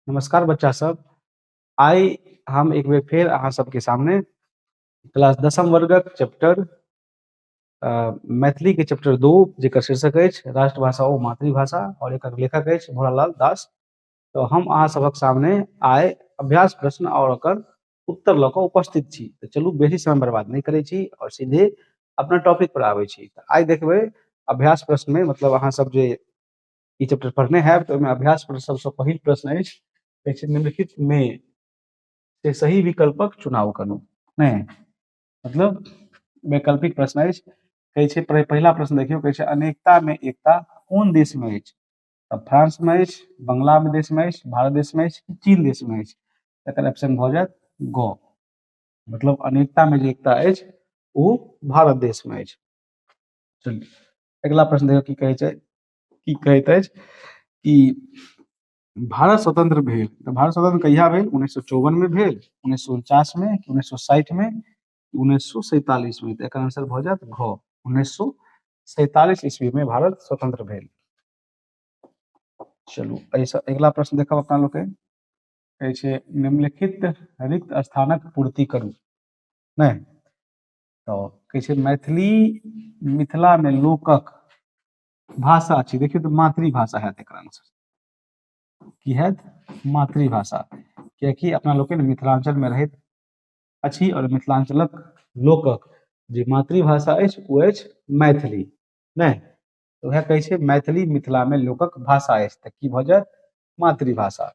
नमस्कार बच्चा सब आइ हम एक बेर फेर अहाँ सबके सामने क्लास दसम वर्गक चैप्टर मैथिली के चैप्टर दू जेकर शीर्षक अछि राष्ट्रभाषा ओ मातृभाषा और एक लेखक अछि भोलालाल दास तो हम अहाँ सबक सामने आइ अभ्यास प्रश्न और ओकर उत्तर लऽ कऽ उपस्थित छी तऽ चलू बेसी समय बर्बाद नहि करै छी और सीधे अपना टॉपिक पर आबै छी तऽ आइ देखबै अभ्यास प्रश्न में मतलब अहाँ सब जे ई चैप्टर पढ़ने हैब तऽ ओहिमे अभ्यास पर सबसँ पहिल प्रश्न अछि कहै छै निम्नलिखित मे से सही विकल्पक चुनाव करू नहि मतलब वैकल्पिक प्रश्न अछि कहै छै पहि- पहिला प्रश्न देखियौ कहै छै अनेकता मे एकता कोन देश मे अछि तऽ फ्रांस मे अछि बंगला मे देश मे अछि भारत देश मे अछि कि चीन देश मे अछि तकर ऑप्शन भऽ जायत ग मतलब अनेकता मे जे एकता अछि ओ भारत देश मे अछि चलिए अगिला प्रश्न देखियौ की कहै छै की कहैत अछि कि भारत स्वतंत्र भेल तऽ भारत स्वतंत्र कहिया भेल उन्नैस सए चौवन मे भेल उन्नैस सए उनचास मे कि उन्नैस सए साठि मे कि उन्नैस सए सैतालिस मे तऽ एकर आंसर भऽ जायत घ उन्नैस सए सैतालिस ईस्वी मे भारत स्वतंत्र भेल चलू एहिसँ अगिला प्रश्न देखब अपना लोग कहै छै निम्नलिखित रिक्त स्थानक पूर्ति करू नहि तऽ कहै छै मैथिली मिथिलामे लोकक भाषा छी देखियौ तऽ मातृभाषा हैत एकर आंसर की हैत मातृभाषा कियाकि अपना लोकनि मिथिलाञ्चलमे रहैत अछि आओर मिथिलाञ्चलक लोकक जे मातृभाषा अछि ओ अछि मैथिली नहि तऽ उएह कहै छै मैथिली मिथिलामे लोकक भाषा अछि तऽ की भऽ जायत मातृभाषा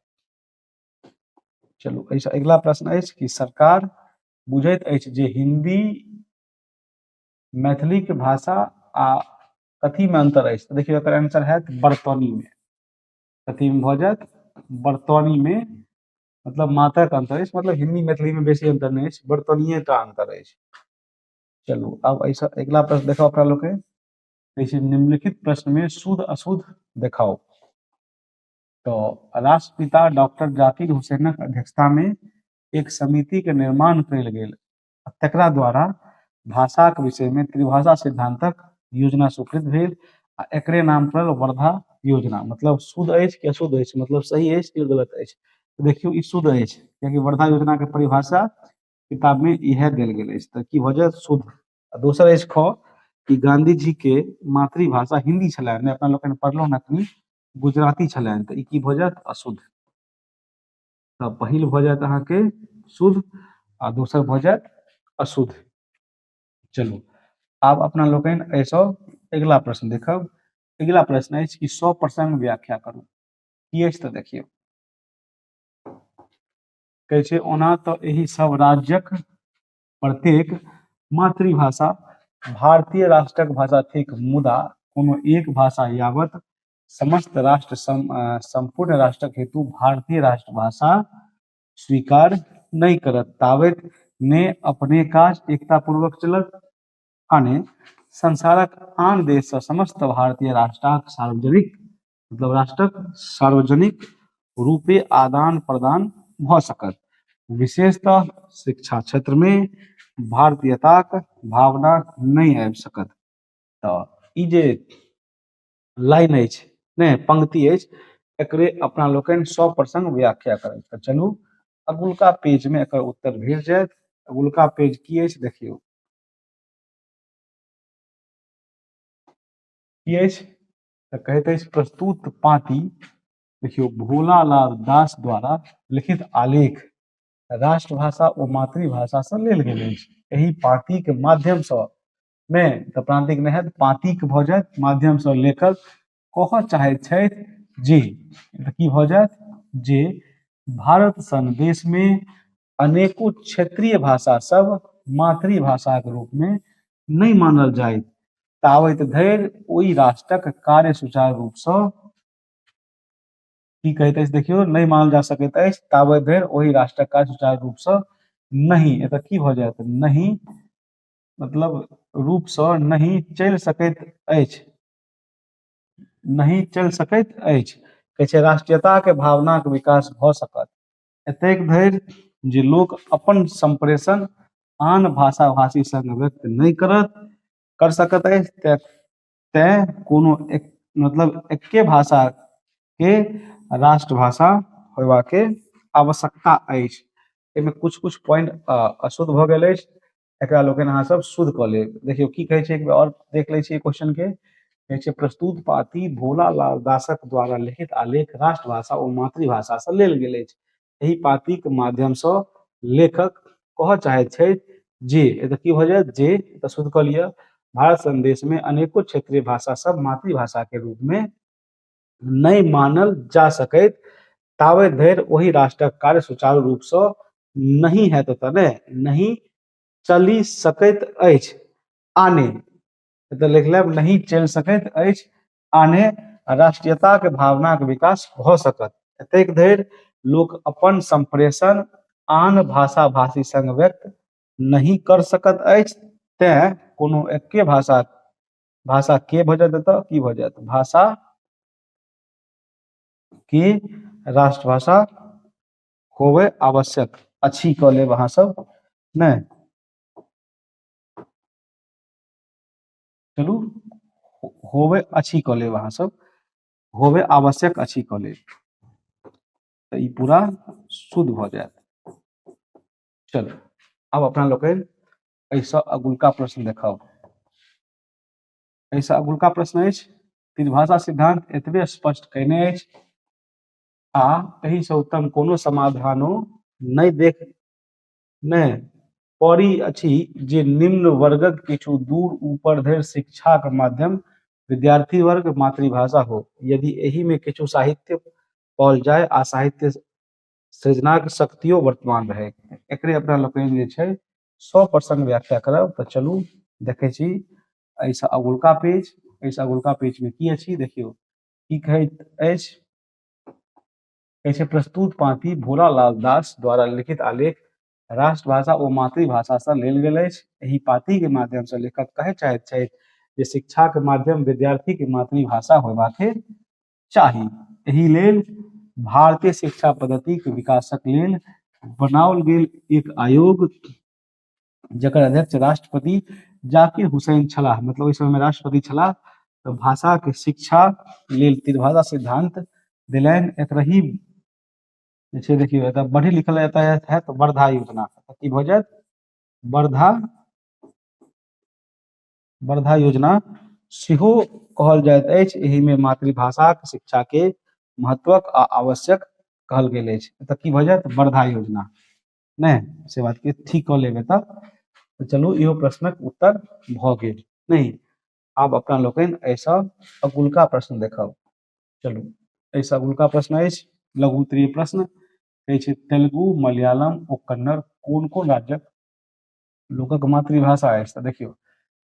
चलू एहिसँ अगिला प्रश्न अछि कि सरकार बुझैत अछि जे हिन्दी मैथिली के भाषा आ कथी में अंतर अछि तऽ देखियौ एकर आंसर हैत बर्तनी में कथी में भऽ जायत बर्तनी में मतलब मात्रा के अंतर अछि मतलब हिंदी मैथिली में बेसी अंतर नहि अछि बर्तनिये टा अंतर अछि चलू आब एहिसँ अगिला प्रश्न देखाउ अपना लोग के कहै छै निम्नलिखित प्रश्न में शुद्ध अशुद्ध देखाउ तऽ राष्ट्रपिता डॉक्टर जाकिर हुसैनक अध्यक्षता में एक समिति के निर्माण कयल गेल आ तकरा द्वारा भाषाक विषय में त्रिभाषा सिद्धांतक योजना स्वीकृत भेल आ एकरे नाम पर वर्धा योजना मतलब शुद्ध अछि कि अशुद्ध अछि मतलब सही अछि कि गलत अछि तो देखियो ई शुद्ध अछि कियाकि वर्धा योजना के परिभाषा किताब में इहे देल गेल अछि तऽ की भऽ जायत शुद्ध आ दोसर अछि ख कि गांधी जी के मातृभाषा हिंदी छलनि अपना लोकनि पढ़लहुँ अखनी गुजराती छलनि तऽ ई की भऽ जायत अशुद्ध तऽ पहिल भऽ जायत अहाँके शुद्ध आ दोसर भऽ जायत अशुद्ध चलू आब अपना लोकनि एहिसँ अगिला प्रश्न देखब अगिला प्रश्न अछि कि सौ प्रसंग व्याख्या करू की अछि तऽ देखियौ कहै छै ओना तऽ एहि सब राज्यक प्रत्येक मातृभाषा भारतीय राष्ट्रक भाषा थिक मुदा कोनो एक भाषा यावत समस्त राष्ट्र सम, सम्पूर्ण राष्ट्रक हेतु भारतीय राष्ट्रभाषा स्वीकार नहि करत तावत ने अपने काज एकता पूर्वक चलत आ ने संसारक आन देश से समस्त भारतीय राष्ट्रक सार्वजनिक मतलब राष्ट्रक सार्वजनिक रूपे आदान प्रदान भ सकत विशेषतः शिक्षा क्षेत्र में भारतीयताक भावना नहीं आबि सकत तऽ ई जे लाइन अछि ने पंक्ति अछि एकरे अपना लोकनि सौ प्रसंग व्याख्या करब तऽ चलू अगुलका पेज में एकर उत्तर भेट जायत अगुलका पेज की अछि देखियौ की अछि तऽ कहैत अछि प्रस्तुत पाती देखियौ भोलालाल दास द्वारा लिखित आलेख राष्ट्रभाषा ओ मातृभाषासँ लेल गेल अछि एहि पाँतिक माध्यमसँ मे तऽ प्रांतिक नहि हैत पातिक भऽ जायत माध्यमसँ लेखक कहऽ चाहैत छथि जे तऽ की भऽ जायत जे भारत सन देशमे अनेको क्षेत्रीय भाषा सब मातृभाषाक रूपमे नहि मानल जायत तावैत धरि ओहि राष्ट्रक कार्य सुचारू रूपसँ की कहैत अछि देखियौ नहि मानल जा सकैत अछि ताबे धरि ओहि राष्ट्रक काज सुचारू रूपसँ नहि एतऽ की भऽ जायत नहि मतलब रूपसँ नहि चलि सकैत अछि नहि चलि सकैत अछि कहै छै राष्ट्रीयताके भावनाके विकास भऽ सकत एतेक धरि जे लोक अपन सम्प्रेषण आन भाषा भाषी सङ्ग व्यक्त नहि करत कर सकत अछि तैँ तैँ कोनो एक मतलब एक्के भाषाके राष्ट्रभाषा होयबाके आवश्यकता अछि एहिमे किछु किछु पॉइंट अशुद्ध भऽ गेल अछि एकरा लोकनि अहाँ सब शुद्ध कऽ लेब देखियौ की कहै छै एक बेर आओर देख लै छियै क्वेश्चन के कहै छै प्रस्तुत पाती भोला लाल दासक द्वारा लिखित आलेख राष्ट्रभाषा ओ मातृभाषा से लेल गेल अछि एहि पातीक माध्यम से लेखक कहऽ चाहैत छथि जे एतऽ की भऽ जायत जे एतऽ शुद्ध कऽ लिअ भारत संदेश में अनेको क्षेत्रीय भाषा सब मातृभाषा के रूप में नहि मानल जा सकैत ताबे धरि ओहि राष्ट्रक कार्य सुचारू रूपसँ नहि हैत ओतऽ ने नहि चलि सकैत अछि आने एतऽ लिख लेब नहि चलि सकैत अछि आने राष्ट्रीयताके भावनाके विकास भऽ सकत एतेक धरि लोक अपन सम्प्रेषण आन भाषा भाषी सङ्ग व्यक्त नहि कर सकत अछि तैँ कोनो एक्के भाषा भाषा के भऽ जायत एतऽ की भऽ जायत भाषा की राष्ट्रभाषा होबे आवश्यक अछि कऽ लेब अहाँ सब नहि चलू हो- होबे अछि कऽ लेब अहाँ सब होबे आवश्यक अछि कऽ लेब तऽ ई पूरा शुद्ध भऽ जायत चलू आब अपना लोकनि एहिसँ अगुलका प्रश्न देखाउ एहिसँ अगुलका प्रश्न अछि त्रिभाषा सिद्धांत एतबे स्पष्ट कयने अछि आ एहिसँ उत्तम कोनो समाधानो नहि देख नहि पड़ी अछि जे निम्न वर्गक किछु दूर ऊपर धरि शिक्षाक माध्यम विद्यार्थी वर्ग मातृभाषा हो यदि एहि में किछु साहित्य पाओल जाय आ साहित्य सृजनाक शक्तियो वर्तमान रहे एकरे अपना लोकनि जे छै सौ प्रसंग व्याख्या करब तऽ चलू देखै छी एहिसँ अगुलका पेज एहिसँ अगुलका पेजमे की अछि देखियौ की कहैत अछि कहै छै प्रस्तुत पाँति भोलालाल दास द्वारा लिखित आलेख राष्ट्रभाषा ओ मातृभाषासँ लेल गेल अछि एहि पाँतिके माध्यमसँ लेखक कहय चाहैत छथि जे शिक्षाके माध्यम विद्यार्थीके मातृभाषा होयबाके चाही एहि लेल भारतीय शिक्षा पद्धति के विकासक लेल बनाओल गेल एक आयोग जकर अध्यक्ष राष्ट्रपति जाकिर हुसैन छलाह मतलब ओहि समय में राष्ट्रपति छलाह तो भाषा के शिक्षा लेल त्रिभाषा सिद्धांत दिलैन एक रही जैसे देखियो एतऽ बढ़ी लिखल रहता है, है तो वर्धा योजना की भऽ जायत वर्धा वर्धा योजना सेहो कहल जाइत अछि एहि में मातृभाषा के शिक्षा के महत्वक आ आवश्यक कहल गेल अछि एतय की भऽ जायत वर्धा योजना नहि से बात के ठीक कऽ लेब एतय तऽ चलू इहो प्रश्नक उत्तर भऽ गेल नहि आब अपना लोकनि एहिसँ अगुलका प्रश्न देखब चलू एहिसँ अगुलका प्रश्न अछि लघु उत्तरीय प्रश्न कहै छै तेलुगु मलयालम ओ कन्नड़ कोन कोन राज्यक लोकक मातृभाषा अछि तऽ देखियौ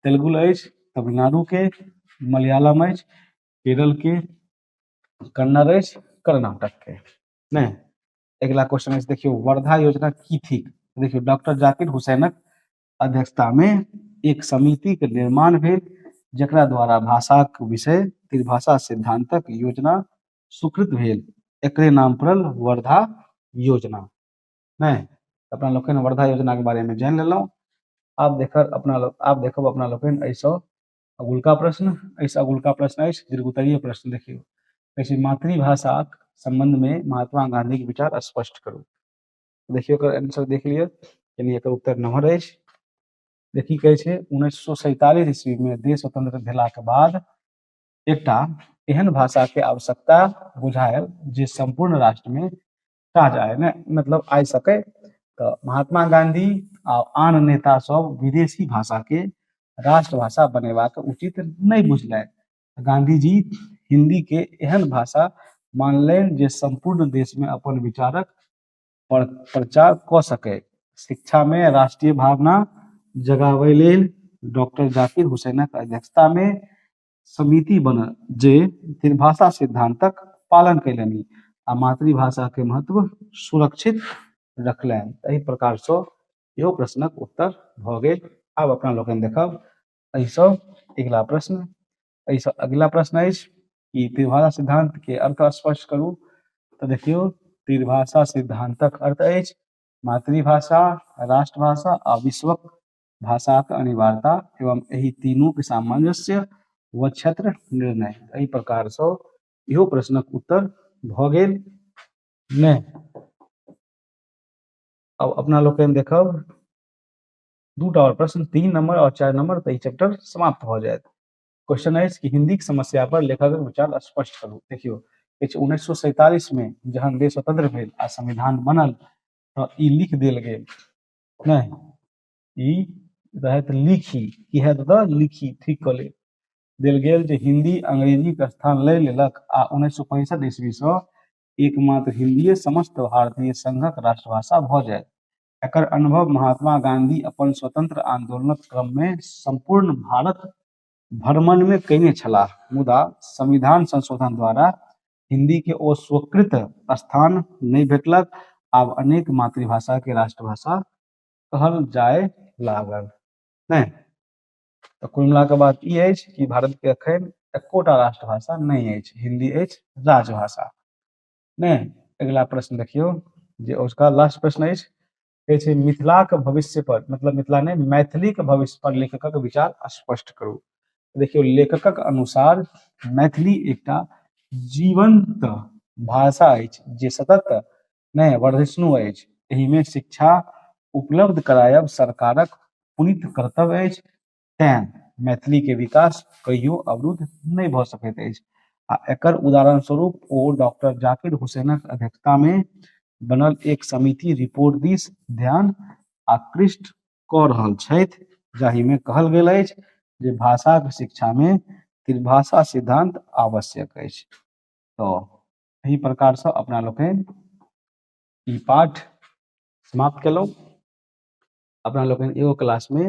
तेलुगु अछि तमिलनाडुके मलयालम अछि केरलके कन्नड़ अछि कर्नाटकके नहि अगिला क्वेश्चन अछि देखियौ वर्धा योजना की थिक देखियौ डॉक्टर जाकिर हुसैनक अध्यक्षतामे एक समितिके निर्माण भेल जकरा द्वारा भाषाक विषय त्रिभाषा सिद्धांतक योजना स्वीकृत भेल एकरे नाम पड़ल वर्धा योजना नहि अपना लोकनि वर्धा योजनाके बारेमे जानि लेलहुँ आब देखब अपना लोक आब देखब अपना लोकनि एहिसँ अगुलका प्रश्न एहिसँ अगुलका प्रश्न अछि दीर्घ उत्तरीय प्रश्न देखियौ कहै छै मातृभाषाक सम्बन्धमे महात्मा गाँधीके विचार स्पष्ट करू देखियौ एकर आंसर देख लिअ यानी एकर उत्तर नम्हर अछि जे की कहै छै उन्नैस सए सैतालिस ईस्वीमे देश स्वतंत्र भेलाके बाद एकटा एहन भाषाके आवश्यकता बुझायल जे सम्पूर्ण राष्ट्रमे कहाँ जाए ने मतलब आइ सकै तऽ महात्मा गांधी आ आन नेता सब विदेशी भाषा के राष्ट्रभाषा बनेबाक उचित नहि बुझलनि गांधीजी हिंदी के एहन भाषा मानलनि जे संपूर्ण देश में अपन विचारक पर प्रचार कऽ सकै शिक्षा में राष्ट्रीय भावना जगाबै लेल डॉक्टर जाकिर हुसैनक अध्यक्षता में समिति बनल जे त्रिभाषा सिद्धांतक पालन कयलनि आ मातृभाषा के महत्व सुरक्षित रखलनि एहि प्रकार से इहो प्रश्नक उत्तर भऽ गेल आब अपना लोकनि देखब एहिसँ अगिला प्रश्न एहिसँ अगिला प्रश्न अछि कि त्रिभाषा सिद्धांत के अर्थ स्पष्ट करू तऽ देखियौ त्रिभाषा सिद्धांतक अर्थ अछि मातृभाषा राष्ट्रभाषा आ विश्वक भाषाक अनिवार्यता एवं एहि तीनूक सामंजस्य व क्षेत्र निर्णय एहि प्रकारसँ इहो प्रश्नक उत्तर भऽ गेल ने अब अपना लोग देखब दूटा और प्रश्न तीन नंबर और चार नंबर तो चैप्टर समाप्त हो जाए क्वेश्चन है कि हिंदी की समस्या पर लेखक विचार स्पष्ट करू देखियो उन्नीस सौ सैतालीस में जहन देश स्वतंत्र भेल आ संविधान बनल तो लिख दिल गए नहि ई रहत लिखी की है दादा लिखी ठीक कऽ ले देल गेल जे हिंदी अंग्रेजीक स्थान लय लेलक आ उन्नैस सए पैंसठ ईस्वीसँ एकमात्र हिंदीए समस्त भारतीय संघक राष्ट्रभाषा भऽ जायत एकर अनुभव महात्मा गांधी अपन स्वतंत्र आंदोलनक क्रममे सम्पूर्ण भारत भ्रमणमे कयने छलाह मुदा संविधान संशोधन द्वारा हिन्दीके ओ स्वीकृत स्थान नहि भेटलक आब अनेक मातृभाषाके राष्ट्रभाषा कहल जाय लागल नहि तऽ कुल मिलाके बात ई अछि कि भारतके एखन एकोटा राष्ट्रभाषा नहि अछि हिन्दी अछि राजभाषा नहि अगिला प्रश्न देखियौ जे उसका लास्ट प्रश्न अछि कहै छै मिथिलाक भविष्य पर मतलब मिथिला नहि मैथिलीक भविष्य पर लेखकक विचार स्पष्ट करू देखियौ लेखकक अनुसार मैथिली एकटा जीवंत भाषा अछि जे सतत नहि वर्धिष्णु अछि एहिमे शिक्षा उपलब्ध करायब सरकारक पुनित कर्तव्य अछि तैं मैथिली के विकास कहियो अवरुद्ध नहि भऽ सकैत अछि आ एकर उदाहरण स्वरूप ओ डॉक्टर जाकिर हुसैनक अध्यक्षता मे बनल एक समिति रिपोर्ट दिस ध्यान आकृष्ट कऽ रहल छथि जाहि मे कहल गेल अछि जे भाषाक शिक्षा मे त्रिभाषा सिद्धांत आवश्यक अछि तऽ एहि प्रकार से अपना लोकनि ई पाठ समाप्त केलहुँ अपना लोकनि एगो क्लासमे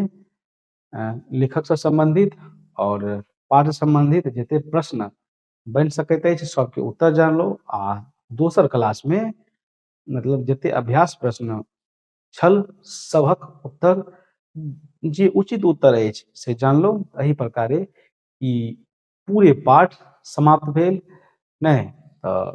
लेखकसँ सम्बन्धित आओर पाठ सम्बन्धित जते प्रश्न बनि सकैत अछि सबके उत्तर जान लो आ दोसर क्लासमे मतलब जते अभ्यास प्रश्न छल सभक उत्तर जे उचित उत्तर अछि से जान लो एहि प्रकारे ई पूरे पाठ समाप्त भेल नहि तऽ